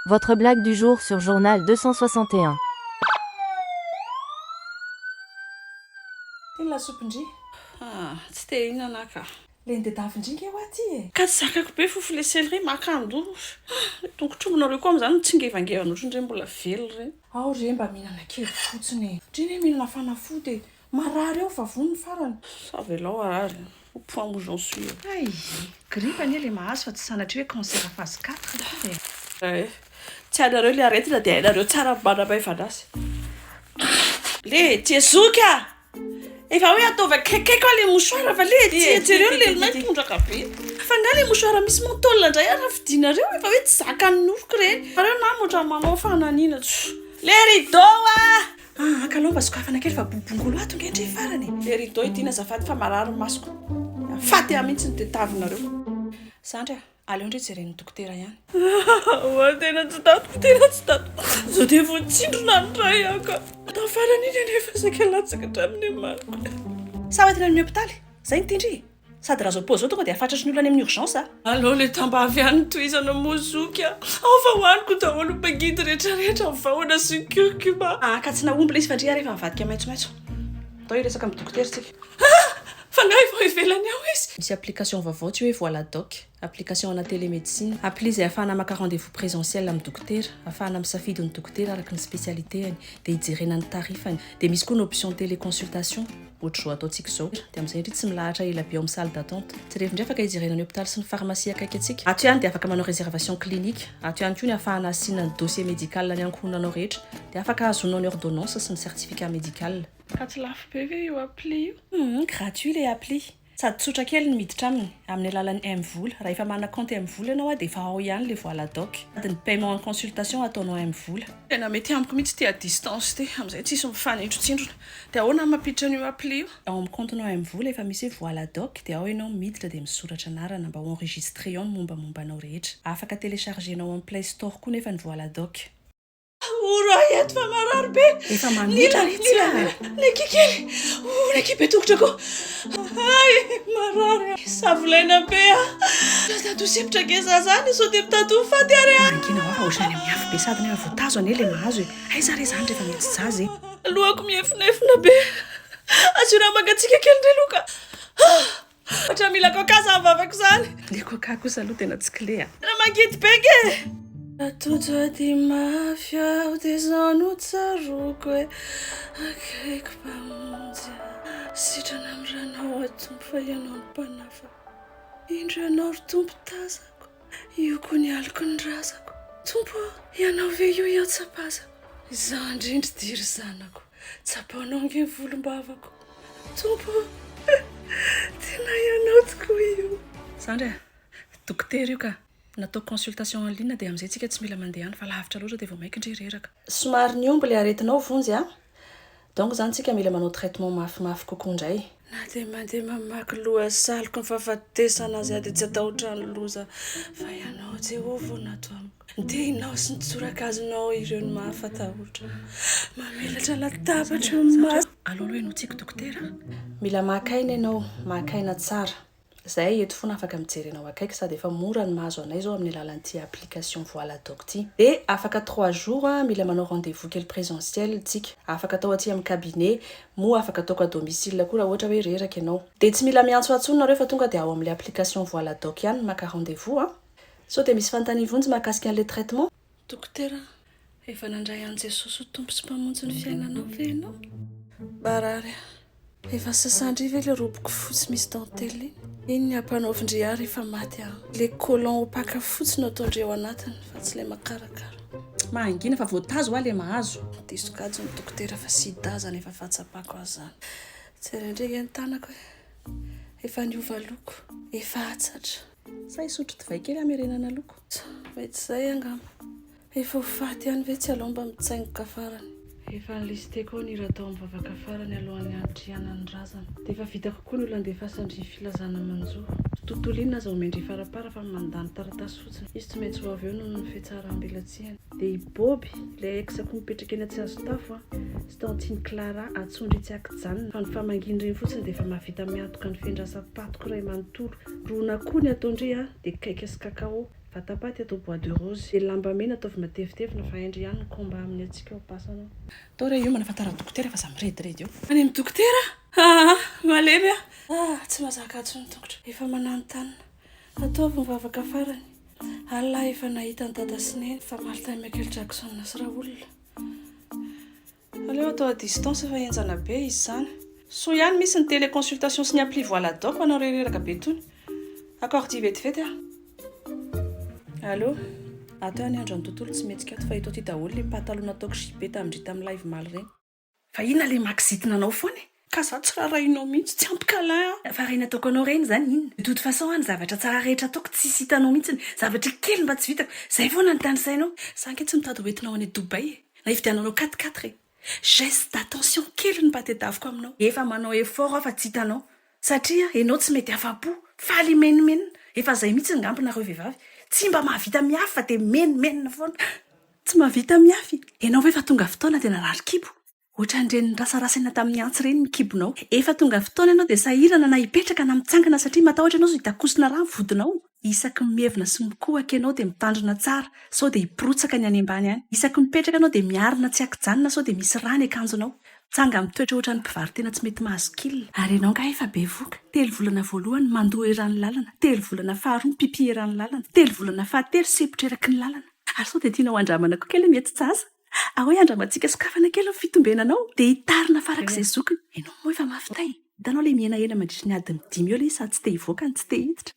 Votre blague du jour sur journal deux cent soixante et un. Iny lasopy ndry. Ah, tsy te hihinana aho ka. Le ndedavy ndry nge hoa ty e. Ka tsy zakako be fofo le céleri maka an-doha. Ah, le tongotr'ombinareo koa amin'izany mitsingevangevana ohatran'ireny mbola velona ireny. Ao re mba mihinana kely fotsiny e. Ndry anie mihinana fanafody e. Marary eo fa vonona farany. Ça velao harary au point où j'en suis. Hay! Grippe anie le mahazo fa tsy sanatria hoe cancer phase quatre akory e! Ay! Tsy hainareo le aretina dia hainareo tsara ny manamaivana azy. Le tia zoky a! Efa hoe ataovy akaikaiko aho le mouchoir fa le tia jereo ny lelinay tondraka be. Fa nga le mouchoir misy menthol ndray ary raha fidinareo efa hoe tsy zakan'ny nofoko ireny. Nareo nama otrany manao fananina tso. Le rideau a! Ah ah kalao mba sokafana kely fa bobongolo ato nge ndry farany e. Le rideau idina azafady fa marary ny masoko. Mifaty ahy mihitsy ny tetavinareo. Zandry a, aleo ndry jeren'ny dokotera ihany. Ah oa tena tsy tatiko tena tsy tatiko zao dia voatsindrona ny ray aho ka tao farany iny anefa saika latsaka hatramin'ny emaniko. Sa hoentina amin'ny hopitaly? Zay ny tindry e. Sady raha zao pause zao tonga dia hafatratry ny olona any amin'ny urgence a. Alao le tambavy any ny tohizana moa zoky a! Ao fa hoaniko daholo ny pagidy rehetra rehetra ny vahona sy ny curcuma. Haka tsy nahomby le izy fa ndry ary efa mivadika maitsomaitso. Atao hiresaka amin'ny dokotera tsika. Ah! Fanahy vao ivelany ao izy. Misy application vaovao tsy hoe voila doc. Application ana télémédecine, appli izay ahafahana maka rendez-vous présentiel amin'ny dokotera, ahafahana misafidy ny dokotera araka ny spécialité-any, dia ijerena ny tarifany. Dia misy koa ny option téléconsultation, ohatr'izao ataontsika izao, dia amin'izay indry tsy milahatra ela be ao amin'ny salle d'attente. Jerevy indray afaka ijerena ny hôpitaly sy ny pharmacie akaiky antsika. Ato ihany dia afaka manao réservation clinique. Ato ihany koa ny ahafahana hasiana ny dossier médical ny ankohonanao rehetra. Dia afaka ahazoanao ny ordonnance sy ny certificat médical. Ka tsy lafo be ve io appli io? Humm gratuit le appli. Sady tsotra kely ny miditra aminy, amin'ny alalan'ny mvola. Raha efa manana kaonty mvola ianao a, dia efa ao ihany ilay voala doc. Sady ny paiement en consultation ataonao mvola. Tena mety amiko mihitsy ity à distance ity, amin'izay tsisy mifanintrotsindrona. Dia ahoana ny mampiditra an'io appli io? Ao amin'ny kaontinao mvola efa misy hoe voala doc, dia ao ianao miditra dia misoratra anarana mba ho enregistré ao ny mombamomba anao rehetra. Afaka telechargenao amin'ny play store koa nefa ny voala doc. Oro ahy eto fa marary be. Efa mamitra ry tsy ah. Niki kely. Oh, Niki be tongotra ko. Ay, marary. Savolaina be ah. Zato sepitra ke za zany so dia mitady ho faty ary ah. Mangina ho ohatrany amin'ny afo be sady nefa voatazo anie le mahazo e. Aiza re zany rehefa mety zaza e. Lohako miefonefona be. Asio rano mangatsiaka kely ndry loka. Ah. Ohatran'ny mila coca zany vavako zany. Le coca kosa aloha tena tsy kle a. Tena mangidy be nge e. Tojo ady mafy aho de zao no tsaroako hoe akaiky mpamonjy ahy. Sitrana amin'ny ranao aho Tompo fa Ianao no Mpanafa Indro Ianao ry Tompo tazako Io koa ny aliko ny razako Tompo ô Ianao ve io hiantsapazako Izaho indrindra dia ry zanako Tsapaonao ange ny volombavako. Tompo ô, tena ianao tokoa io. Zandry a! Dokotera io ka! Natao consultation en ligne dia amin'izay tsika tsy mila mandeha any fa lavitra loatra dia vao mainka ndry reraka. Somary nihombo ilay aretinao vonjy a! Donc zany tsika mila manao traitement mafimafy kokoa ndray. Na dia mandeha mamaky lohasaloko ny fahafatesana aza aho, dia tsy hatahotra ny loza, fa Ianao, Jehovah, no ato amiko. Ny tehinao sy ny tsorakazonao ireo no mahafatahotra. Mamelatra latabatra eo amin'ny masoko. Aloloy notsiako, Dokotera. Mila maka aina ianao, maka aina tsara. Zahay eto fona afaka mijery anao akaiky sady efa mora ny mahazo anay zao amin'ny alalan'ity application voila doc ty. De afaka trois jours an mila manao rendez vous kely presentiel tsika. Afaka atao aty amin'ny cabinet moa afaka ataoko à domicile koa raha ohatra hoe reraka ianao. De tsy mila miantso antsony nareo fa tonga de ao amin'le application voila doc ihany maka rendez vous an. Sao dia misy fanontanian vonjy mahakasika an'le traitement? Dokotera, efa nandray an'i Jesosy ho Tompo sy Mpamonjy ny fiainanao ve ianao? Marary, efa sasandry ve ilay roboko fotsy misy dentelle iny? Iny ny ampanaovin-dry ahy rehefa maty aho. Ilay collant ho paka fotsy no ataon-dry ao anatiny fa tsy ilay makarakara. Mahangina fa voatazo hoa ilay mahazo. Diso kajy ny dokotera fa sida izany efa fahatsapako azy izany. Jereo indray ve ny tanako e! Efa niova loko, efa atsatra. Sa hisotro divay kely hamerenana loko? Tsa, mety izay angamba. Efa ho faty ihany ve tsy aleo mba mitsaingoka farany. Efa nilisteko ao ny hira tao amin'ny vavaka farany alohan'ny hanitrihana ny razana. Dia efa vita kokoa ny olo andefasan-dry Filazana manjo. Tontolo inona aza omen-dry Farapara fa mandany taratasy fotsiny. Izy tsy maintsy ho avy eo noho ny fihatsarambelatsihany. Dia i Boby, ilay ex-ko mipetraka eny Antsihazotafo an, sy tao Antsin'i Clara, atsondry tsy an-kijanona. Fa ny famangian'ireny fotsiny dia efa mahavita miantoka ny fendrasam-patoko iray manontolo. Ron'akoho ny atao ndry a, dia cake sy cacao, vatapaty atao bois de rose, dia lamba mena ataovy matevitevina fa haindry ihany ny combat amin'ny hatsiaka ao am-pasana. Tao re io manafantara ny dokotera fa za mirediredy eo. Any amin'ny dokotera? Haa! Malemy a! Ah! Tsy mazaka atsy ny tongotra. Efa mananontanona. Ataovy mivavaka farany. Allah efa nahita an'i Dada sy Neny fa Martin Michael Jackson sy Raoul. Aleo atao à distance fa henjana be izy zany. Soa ihany misy ny télé consultation sy ny appli voila doc ho anao rereraka be tony. Accordie vetivety a. Allo. Ato ihany andra ny tontolo tsy mihetsika ato fa eto aty daholo le pataloha nataoko jupe tamindry tamin'ny live maly reny. Fa inona le maxit nanao foana e? Ka za tsy rarahinao mihitsy, tsy ampy câlin an! Fa reny ataoko anao reny zany inona? De toute façon an ny zavatra tsara rehetra ataoko tsisy hitanao mihitsy, zavatra kely mba tsy vitako, zay foana ny tany sainao. Za ange tsy mitady hoentinao any Dubaï e! Na hividiananao quatre quatre e! Geste d'attention kely no mba tedaviko aminao. Efa manao effort aho fa tsy hitanao, satria enao tsy mety afa-po, faly himenomenona, efa zay mihitsy ngamba nareo vehivavy, tsy mba mahavita mihafy fa de mimenomenona foana. Tsy mahavita mihafy? Enao ve efa tonga fotoana de narary kibo? Ohatran'ireny nirasarasa eny tamin'ny antsy ireny ny kibonao. Efa tonga fotoana ianao dia sahirana na hipetraka na mitsangana satria matahotra ianao sao hitakosina rà ny vodinao. Isaky ny mievina sy mikohaka ianao dia mitandrina tsara sao dia hipirotsaka ny any ambany any. Isaky ny mipetraka ianao dia miarina tsy ankijanona sao dia misy rà ny akanjonao. Tsanga mitoetra ohatran'ny mpivaro-tena tsy mety mahazo kil. Ary ianao angaha efa bevoka? Telo volana voalohany, mandoa eran'ny lalana. Telo volana faharoa, mipipy eran'ny lalana. Telo volana fahatelo, sempotra eraky ny lalana. Ary sao dia tianao handramana koa kely ny hetsi-jaza? Ahoy andramantsika sokafana kely ny fitombenanao dia hitarina farak'izay zokiny. Ianao moa efa mafy tay. Hitanao ilay mihenahena mandritra ny adiny dimy eo ilay izy sady tsy te hivoaka no tsy te hiditra.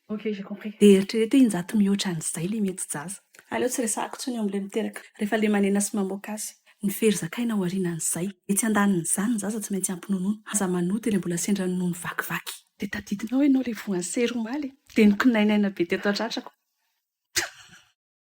Dia eritrereto hoe injato mihoatra an'izay ilay mety jaza. Aleo tsy resahako intsony eo amin'ilay miteraka rehefa lemanena sy mamoaka azy. Ny fery zakaina aorianan'izay. Etsy andanin'izany ny zaza tsy maintsy ampy nonono. Aza manota ilay mbola sendra nonono vakivaky. Dia tadidinao ianao ilay voan'ny sery omaly e. Dia nikonainaina be teto an-tratrako.